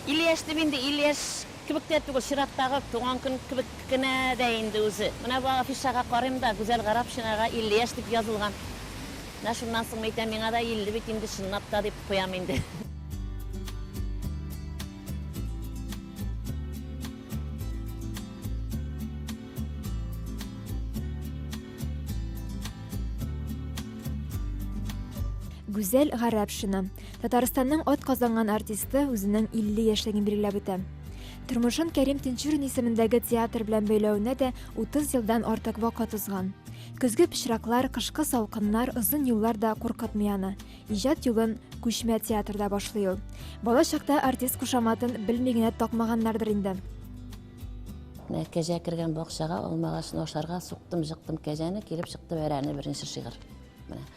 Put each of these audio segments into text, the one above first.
Илле яшь дип инде илле яшь кебек тә түгел, чираттагы туган көн кебек кенә дә инде үзе. Менә бу афишага карыйм да, Гүзәл Гарәпшинага илле яшь дип язылган. Менә шуннан соң әйтәм, миңа да илле бит инде чынлап та, дип куям инде. Гүзәл Гарәпшина. Татарстанның атказанган артисты үзенең 50 яшьлеген билгеләп үтә. Тормышын Кәрим Тинчурин исемендәге театр белән бәйләвенә дә 30 елдан артык вакыт узган. Көзге пычраклар, кышкы салкыннар, озын юллар да куркытмый аны. Иҗат юлын күчмә театрда башлый ул. Бала чакта артист кушаматын белми генә такмаганнардыр инде. Менә кәҗә кергән бакчага, алмагачны ашарга, суктым, жыктым кәҗәне, килеп чыкты бәрәне, беренче шигырь. Менә.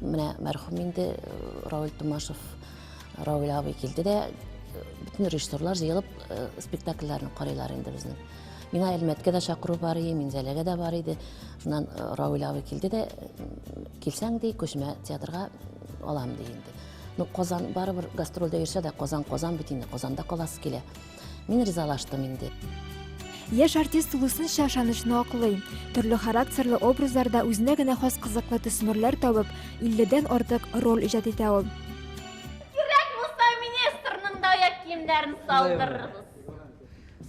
Менә мәрхүм инде Равил Тумашев Равил абый килде дә бөтен режиссерлар җыелып спектакльләрне карыйлар инде безнең. Миңа Әлмәткә дә чакыру бар иде, Минзәләгә дә бар иде. Шуннан Равил абый килде дә килсәң ди күчмә театрга алам ди инде. Ну Казан барыбер гастрольдә йөрсә дә Казан Казан бит инде Казанда каласы килә. Мин ризалаштым инде. Яшь артист тулысынча ышанычны аклый. Төрле характерлы образларда үзенә генә хас кызыклы төсмерләр табып, 50-дән артык роль иҗат итә ул. Кирәк булса, министрның да аяк киемнәрен салдырырбыз.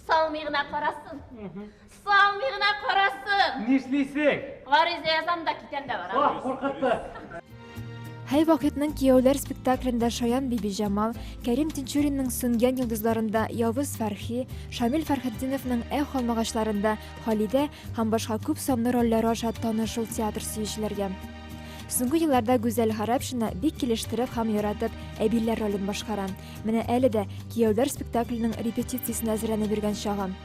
Салмый гына карасын. Салмый гына карасын! Нишлисең? Гариза язам да китәм дә барам. Ох, куркытты! Һәй вакытның кияүләр спектаклендә Шаян Бибиҗамал, Кәрим Тинчуринның Сүнгән йолдызларында Явыз Фәрхи, Шамил Фәрхетдиновның Эх алмагачларында Халидә һәм башка күп санлы рольләре аша таныш шул театр сөючеләргә. Соңгы елларда Гүзәл Гарәпшина бик килештереп һәм яратып Әбиләр ролен башкара. Менә әле дә кияүләр спектакленең репетициясенә әзерләнеп йөргән чагым.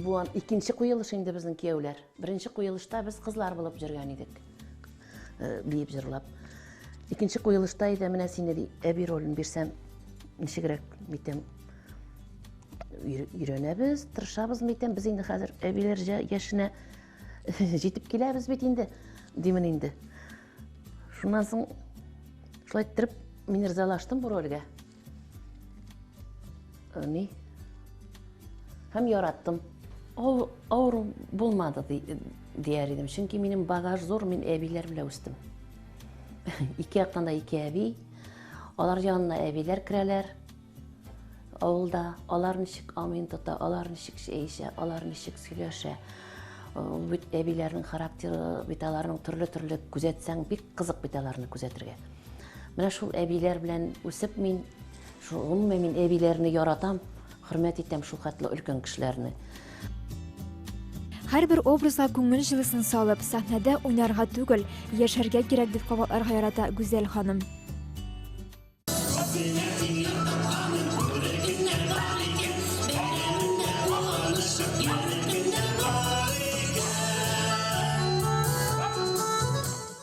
Бу икенче куелыш инде безнең кияүләр. Беренче куелышта без кызлар булып җөргән идек. Э, биеп җырлап. Икенче куелышта иде менә сине ди, әби ролен бирсәм, ничегрәк митем өйрәнәбез, тырышабыз митем, без инде хәзер әбиләр яшенә җитеп киләбез бит инде, димен инде. Шуннан соң шулай иттереп мин ризалаштым бу рольгә. Э, ни? Һәм яраттым. Ул авыр булмады дияр идем. Чөнки минем багаж зур, мин әбиләр белән үстем. Ике яктан да ике әби. Алар янына әбиләр керәләр. Авылда алар ничек амин тота, алар ничек чәй эчә, алар ничек сөйләшә. Бит әбиләрнең характеры, бит аларның төрле-төрле күзәтсәң, бик кызык бит аларны күзәтергә. Менә шул әбиләр белән үсеп мин, шул гомумән мин әбиләрне яратам, хөрмәт итәм шул хәтле өлкән кешеләрне. Һәрбер образга күңел җылысын салып, сәхнәдә уйнарга түгел, яшәргә кирәк, дип кабатларга ярата Гүзәл ханым.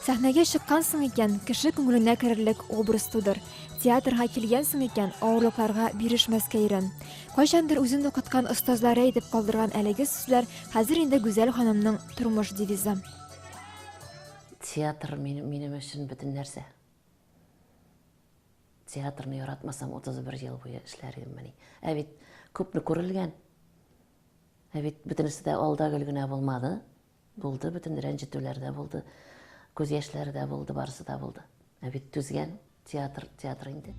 Сәхнәгә чыккан соң икән, кеше күңеленә керерлек образ тудыр. Театрга килгән соң икән, авырлыкларга бирешмәскә өйрән. Кайчандыр үзен укыткан остазлары әйтеп калдырган әлеге сүзләр хәзер инде Гүзәл ханымның тормыш девизы. Театр минем өчен бөтен нәрсә. Театрны яратмасам, 31 ел буе эшләр идеммени? Ә бит күпне күрелгән. Ә бит бөтенесе дә алда гөл генә булмады. Булды, бөтен рәнҗетүләр дә булды. Күз яшьләре дә булды, барысы да булды. Ә бит түзгән театр, театр инде.